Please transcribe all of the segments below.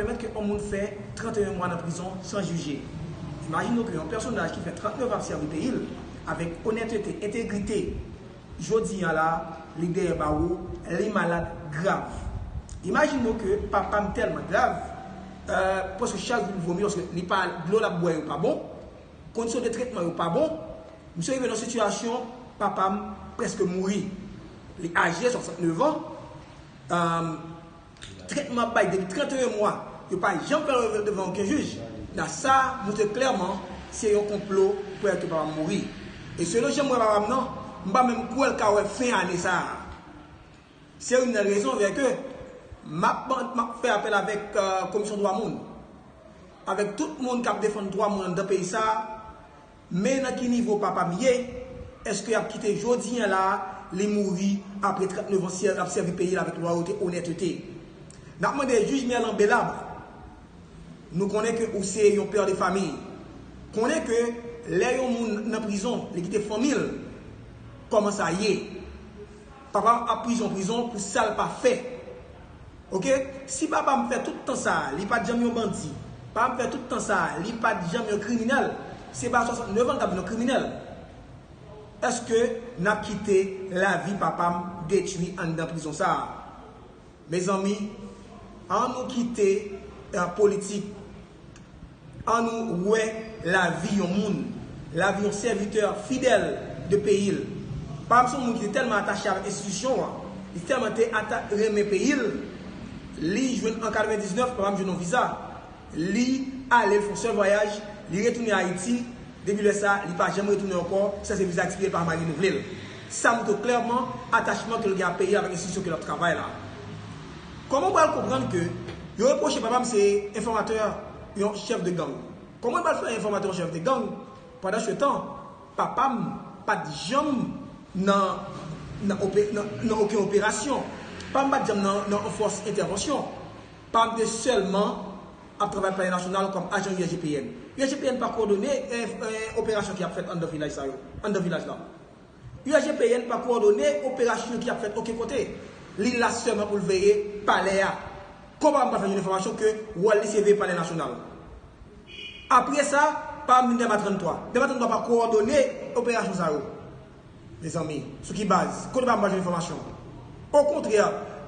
Pèmèt ke yon moun fè 31 mwa nan prizon san jije. Imajine w ke yon pèsonaj ki fè 39 ap sèvi peyi l avèk onètete, entegrite, jodi a la a, li dèyè bawo, li malad grav. Imajine w ke papa m tèlman grav, pwèske chak jou li vomi, pwèske li pa, dlo l ap bwè yo pa bon, kondisyon de tretman yo pa bon, misye rive nan yon sitiyasyon, papa m prèske mouri. Li aje, 69 an. Tretman ap bay depi 31 mwa, yo pa janm fè yo devan oken jij. La sa moutre klèman se yon konplo pou Elke papa m mouri. E selon jan m wè papa m nan, m pa menm kwè l ka wè fen ane sa a. Se youn nan rezon vè ke m ap fè apèl avèk komisyon dwa moun, avèk tout moun k ap defann dwa moun anndan peyi sa a, Men nan ki nivo papa m ye, eske yap kite jodi an la a li mouri apre 39 ans syèl lap sèvi peyi l avèk lwayote onètete. Nap mande jij Merlan Belabre, nou konnen ke ou se yon père de famille, konnen ke lè yon moun nan prizon li kite fanmi l, kòman sa ye? Papam ap prizon prizon pou sal pa fè ok si papam fè tout tan sa li pat janm yon bandi pam fè tout tan sa li pat janm yon kriminèl se pa 69 ans li tap vin yon kriminèl eske nap kite lavi papam detwi anndan prizon sa. Mezanmi an nou kite politik an nou wè lavi yon moun, lavi yon sèvitè fidèl de peyi l. Pam se yon moun ki te tèlman atache avèk enstitisyon an, li tèlman te renmen peyi l, li jwenn an 99 papam jwenn yon viza. Li ale, l fon sèl vwayaj, li retounen Ayiti, depi lè sa, li pa janm retounen ankò, sa se viza expiye l pa marenouvle l. Sa montre klèman atachman ke l gen a peyi a avèk enstitisyon ke l ap travay la. Kòman ou pral konprann ke yo repwoche papa m se enfòmatè yon chèf de gang? Kòman l pral fè enfòmatè yon chèf de gang pandansetan papa m pa t janm nan nan oken operasyon? Papa m pa t janm nan nan yon fòs entèvansyon? pa mnde sèlman ap travay pou Palè Nasyonal kòm ajan USGPN. USGPN pa kowòdone operasyon ki ap fèt anndan vilaj sa yo, anndan vilaj la. USGPN pa kowòdone operasyon ki ap fèt oken kote. Li la sèlman pou l veye Palè a. Konpa m pa fè jwenn enfòmasyon ke wòl li se veye Palè Nasyonal. Apre sa, pa mnde Dèma 33. Dèma 33 pa kowòdone operasyon sa yo. Mezanmi, sou ki baz? Kote pam pral jwenn enfòmasyon? Okontrè,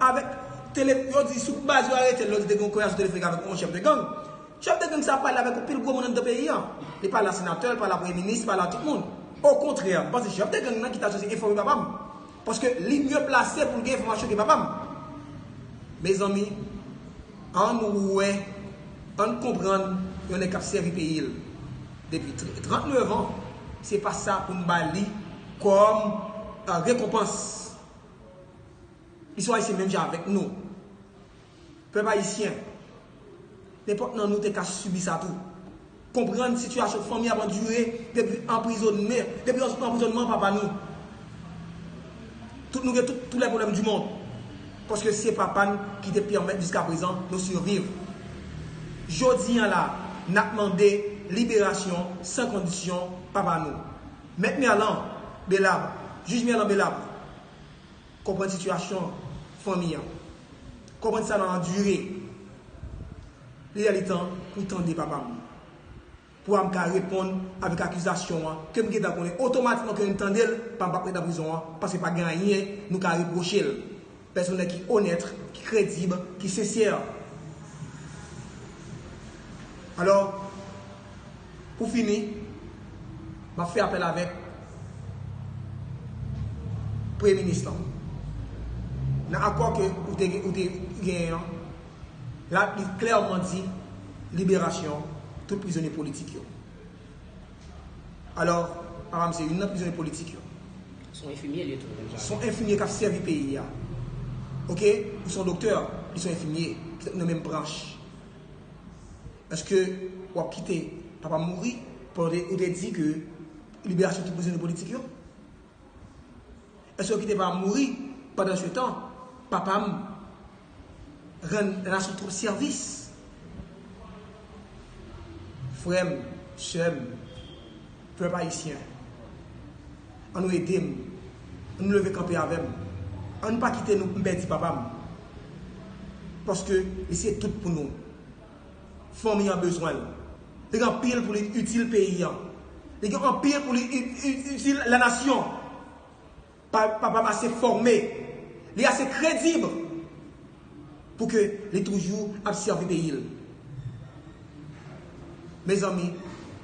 avèk tele, yo di sou baz yo aretel, yo di te gen yon koyas ou te fèk avèk yon chèf de gang. Chèf de gang sa pale avèk anpil gwo moun anndan peyi an. Li pale a senatè, li pale a premye minis, li pale a tout moun. Okontrè, m panse chèf de gang nan ki ta sipoze enfòme papa m. Paske li mye plase pou l gen enfòmasyon ke papa m. Mezanmi. Ann wè, ann konprann yon nèg k ap sèvi peyi l depi 39 an, se pa sa pou n ba li kòm rekonpans. Li se yon Ayisyen menm jan avèk nou. Pèp Ayisyen, nenpòt nan nou te ka sibi sa tou. Konprann sitiyasyon fanmi ap andire depi anprizonmen, depi anprizonman papa nou. Tout nou gen tout tou lè pwoblèm di mond. Paske se papa n ki te pèmèt jiska prezan nou siviv. Jodi an la, n ap mande liberasyon san kondisyon papa nou. Mèt Merlan Belab, Jij Merlan Belab. Konprann sitiyasyon fanmi an. Konprann sa nan andire. Li lè li tan pou w tande papa m. Pou a m ka reponn avèk akizasyon an ke m gentan konnen otomatikman ke lè m tande l, papa m pa p ret nan prizon an paske pa gen anyen nou ka repwoche l. Pèsonn nèg ki onèt, ki kredib, ki sensè. Alò. Pou fini, m ap fè apèl avèk Premye Minis lan. Nan akò ke ou te genyen an, li klèman di liberasyon tout prizonye politik yo. Alò, papa m se youn nan prizonye politik yo. Se yon enfimye li ye tou. Se yon enfimye k ap sèvi peyi a. Ok? Ou se yon doktè, li se yon enfimye. Petèt nou nan menm branch. Eske wap kite papam mouri pandan ou te di ke liberasyon tout prizonye politik yo? Eske wap kite papam mouri pandan se tan papam rann lanasyon twòp sèvis? Frèm, sèm, pèp ayisyen, an nou edem, an nou leve kanpe avèm, an nou pa kite nou mpèdi papam, paske li se tout pou nou. Fanmi an bezwen l. Li gen anpil pou li itil peyi an. Li gen anpil pou li itil lanasyon. Papa m ase fòme. Li ase kredib pou ke li toujou ap sèvi peyi l. Mezanmi,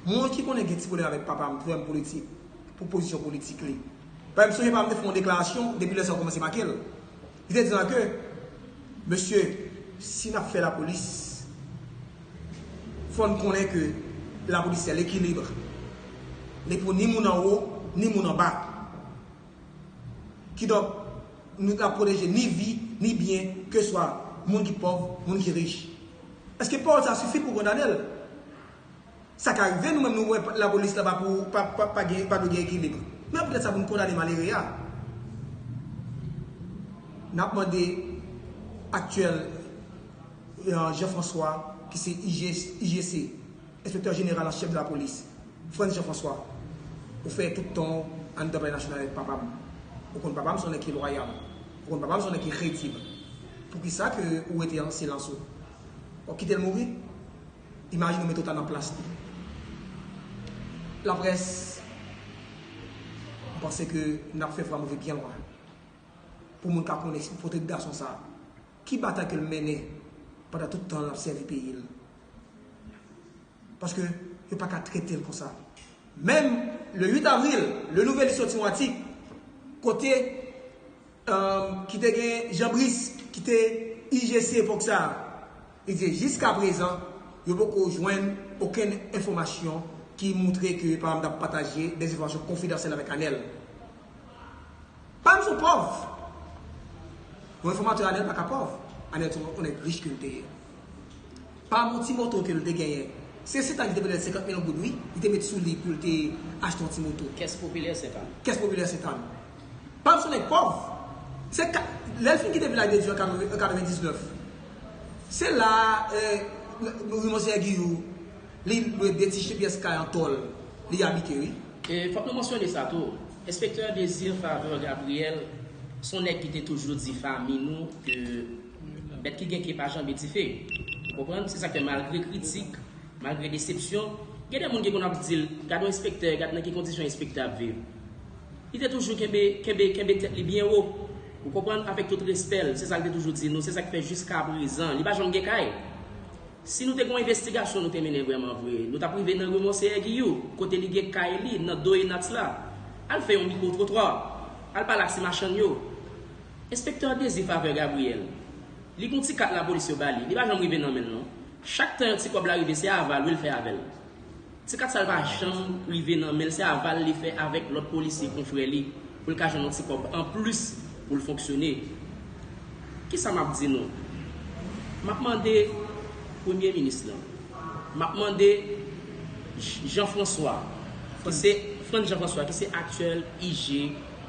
moun ki konnen gen ti pwoblèm avèk papa m, frè m politik, pou pozisyon politik li. Paske m sonje papa m te fè yon deklarasyon, depi lè sa yo kòmanse make l. Li te di lan ke, Mesye, si nap fè lapolis, fò n konnen ke lapolis se lekilibre. Li pou ni moun anwo, ni moun anba. Kidonk, nou ta pwoteje ni vi, ni byen, keswa moun ki pòv, moun ki rich. Eske pawòl sa sifi pou w kondane l? Sa ka rive nou menm nou wè lapolis la pa pou pa gen pa dwe gen ekilibre. Men anpi lè sa pou n kondane malere a. N ap mande aktyèl Jean François ki se IGC, Enspektè Jeneral an Chèf de la Polis, Frantz Jean François, ou fè tout tan w anndan Palè Nasyonal avèk papa m. Ou konn papa m se yon nèg ki lwayal. Ou konn papa m se yon nèg ki kredib. Poukisa ke ou rete an silans ou? W ap kite l mouri? Imajine ou mete w ta nan plas li. Lapres, m panse ke n ap fè Fra Move byen lwen. Pou moun ka konnen si potre gason sa, ki batay ke l mennen pandan tout tan l ap sèvi peyi l. Paske yo pa ka trete l konsa. Menm le 8 avril, Le Nouvelliste soti yon atik kote. ki te gen Jean Brice ki te IGC epòk sa a, li di jiskaprezan yo poko jwenn okenn enfòmasyon ki moutre ke papa m t ap pataje dè enfòmasyon konfidansyèl avèk Anèl. Papa m se yon pòv! Yon enfòmatè Anèl pa ka pòv, Anèl se yon nèg rich ke l te ye. Pa bon ti moto kel te genyen. Se sentan li te pèdel 50 mil goud wi li te met sou li poul te achte yon ti moto. Kès popilè sentan. Kès popilè sentan. Pam son nèg pòv. Se ka lèl fin kite vilaj de Dye an 99. Se la ri monseyè Giyou li lwe 2 ti pyès kay an tòl li abite wi. E fòk nou mansyone sa tou. Enspektè Désir Faveur Gabriel son nèg ki te toujou di fanmi nou ke. Bèt ki gen ke pa janbe dife. Ou konprann? Se sa k fè malgre kritik, malgre desepsyon, gen de moun ki konn ap di l, gad yon enspektè, gad nan ki kondisyon enspektè ap viv. Li te toujou kenbe, kenbe, kenbe tèt li byen wo. Ou konprann? Avèk tout respè l. Se sa l te toujou di nou. Se sa k fè jiskaprezan, li pa janm gen kay. Si nou te gen yon envestigasyon nou te mennen vrèman vre, nou t ap rive nan ri Monseyè Giyou, kote li gen kay li, nan do Enats la. Al fè yon mikwo-twotwa. Al pale ak ti machann yo. Enspektè Dezi favè Gabriel. Li gon ti kat lapolis yo ba li. Li pa janm rive nan men l non. Chak tan yon ti kòb la rive se aval wi l fè avè l. Ti kat sa l pa janm rive nan men l se aval li fè avèk lòt polisye konfrè li pou l ka jwenn yon ti kòb anplis pou l fonksyone. Kisa m ap di nou? M ap mande Premye Minis lan. M ap mande Jean François ki se Frantz Jean François ki se aktyèl IG.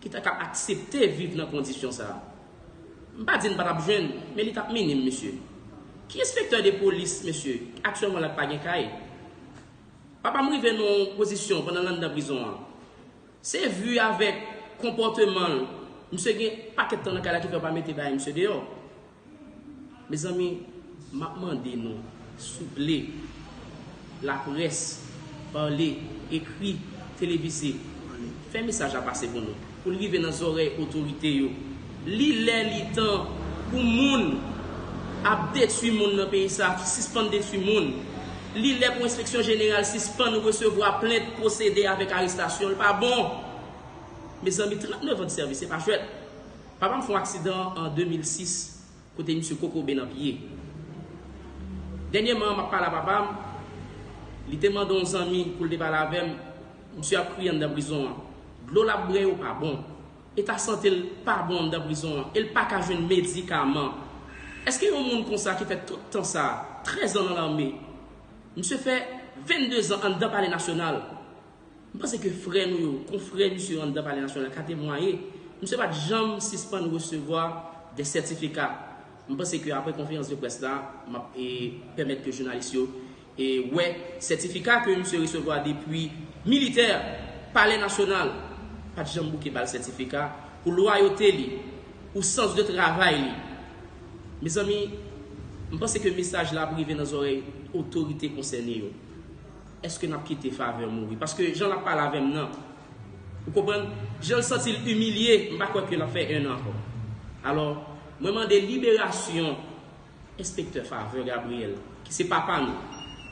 ki ta ka aksepte viv nan kondisyon sa a. M pa di n pa t ap jwenn, men li t ap minim, mesye. Ki enspektè de polis, mesye, ki aktyèlman la k pa gen kay? Papa m rive nan yon pozisyon pandan l anndan prizon an. Se vu avèk konpòteman l, misye gen yon pakèt tan nan kay la ki fè yo pa mete bay misye deyò. Mezanmi map mande nou souple la près parle ekri televise fè mesaj la pase pou nou poul rive nan zòrèy otorite yo li lè li tan pou moun ap detwi moun nan peyi sa sispann detwi moun li lè pou enspeksyon jeneral sispann resevwa plent pwosede avèk arestasyon li pa bon mezanmi 39 an de sèvis se pa jwèt. Papa m fon aksidan an 2006 kote misye kokobe nan pye. Dènyèman an m ap pale a papa m, li te mande yon zanmi pou l te pale avè m, misye ap kriye anndan prizon an. Dlo l ap bwè yo pa bon. Eta sante l pa bon anndan prizon an e l pa ka jwenn medikaman. Eske yon moun konsa ki fè tout tan sa, 13 an nan lame, misye fè 22 zan anndan palè nasyonal, M panse ke frè nou yo, konfrè misye yo anndan Palè Nasyonal la ka temwaye, misye pa t janm sispann resevwa dè sètifika. M panse ke apre konferans de près la, m ap pèmèt ke jounalis yo wè sètifika ke misye resevwa depi militè a. Palè Nasyonal pa t janm bouke ba l sètifika pou lwayote li, pou sans de travay li. Mezanmi, m panse ke mesaj la ap rive nan zòrèy otorite konsène yo. Eske nap kite faveur mouri. Paske jan lap pale avem nan. Ou konprann? Janl santil imilye. M pa kwè ke lap fè 1 an ankò. Alò Mwen mande liberasyon enspektè faveur Gabriel ki se papa nou.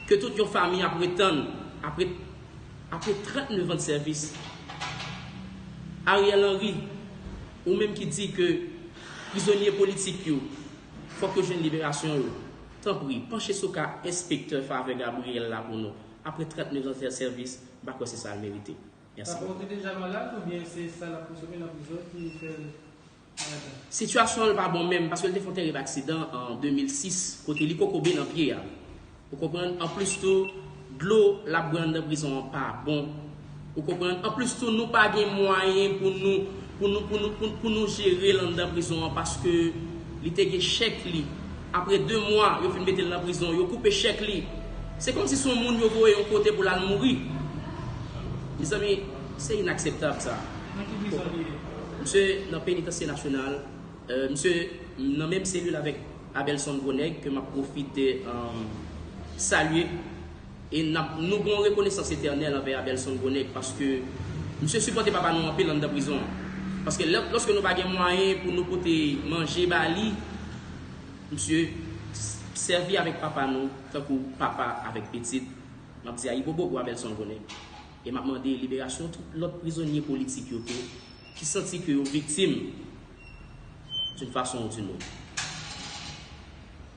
Ke tout yon fami ap ret tann apre apre 39 ans de sèvis. Ariel Henry ou menm ki di ke prizonye politik yo fòk yo jwenn liberasyon yo. Tanpri, panche sou ka enspektè Favre Gabriel la pou nou. Apre 39 zan fè sèvis, m pa kwè se sa l merite. Mèsi. Favre te deja malad oubyen se sa l ap konsome nan prizon ki fè l malad la? Sitiyasyon l pa bon menm paske l te fè yon terib aksidan an 2006 kote li kokobe nan pye a. Ou konprann? Anplis tou. Dlo lap bwè anndan prizon an pa bon ou konprann anplis tou nou pa gen mwayen pou nou pou nou pou nou pou nou pou nou jerel anndan prizon an paske li te gen chèk li apre 2 mwa yo fin metel nan prizon yo koupe chèk li se kòmsi son moun yo voye yon kote pou lal mouri mezanmi se inakseptab sa. Nan ki prizon li ye? Misye nan penitansye nasyonal. Misye nan menm selil avèk Abelson Gwo Nèg ke map pwofite salye e nap nou gen yon rekonesans etènèl anvè Abelson Gwo Nèg paske misye sipòte papa nou anpil anndan prizon an. Paske lòske nou pa gen mwayen pou nou pote manje ba li, misye sèvi avèk papa nou tankou papa avèk pitit. Map di ayibobo pou Abelson Gwo Nèg e map mande liberasyon tout lòt prizonye politik yo tou. Ki santi ke yo viktim d'une façon ou d'une autre.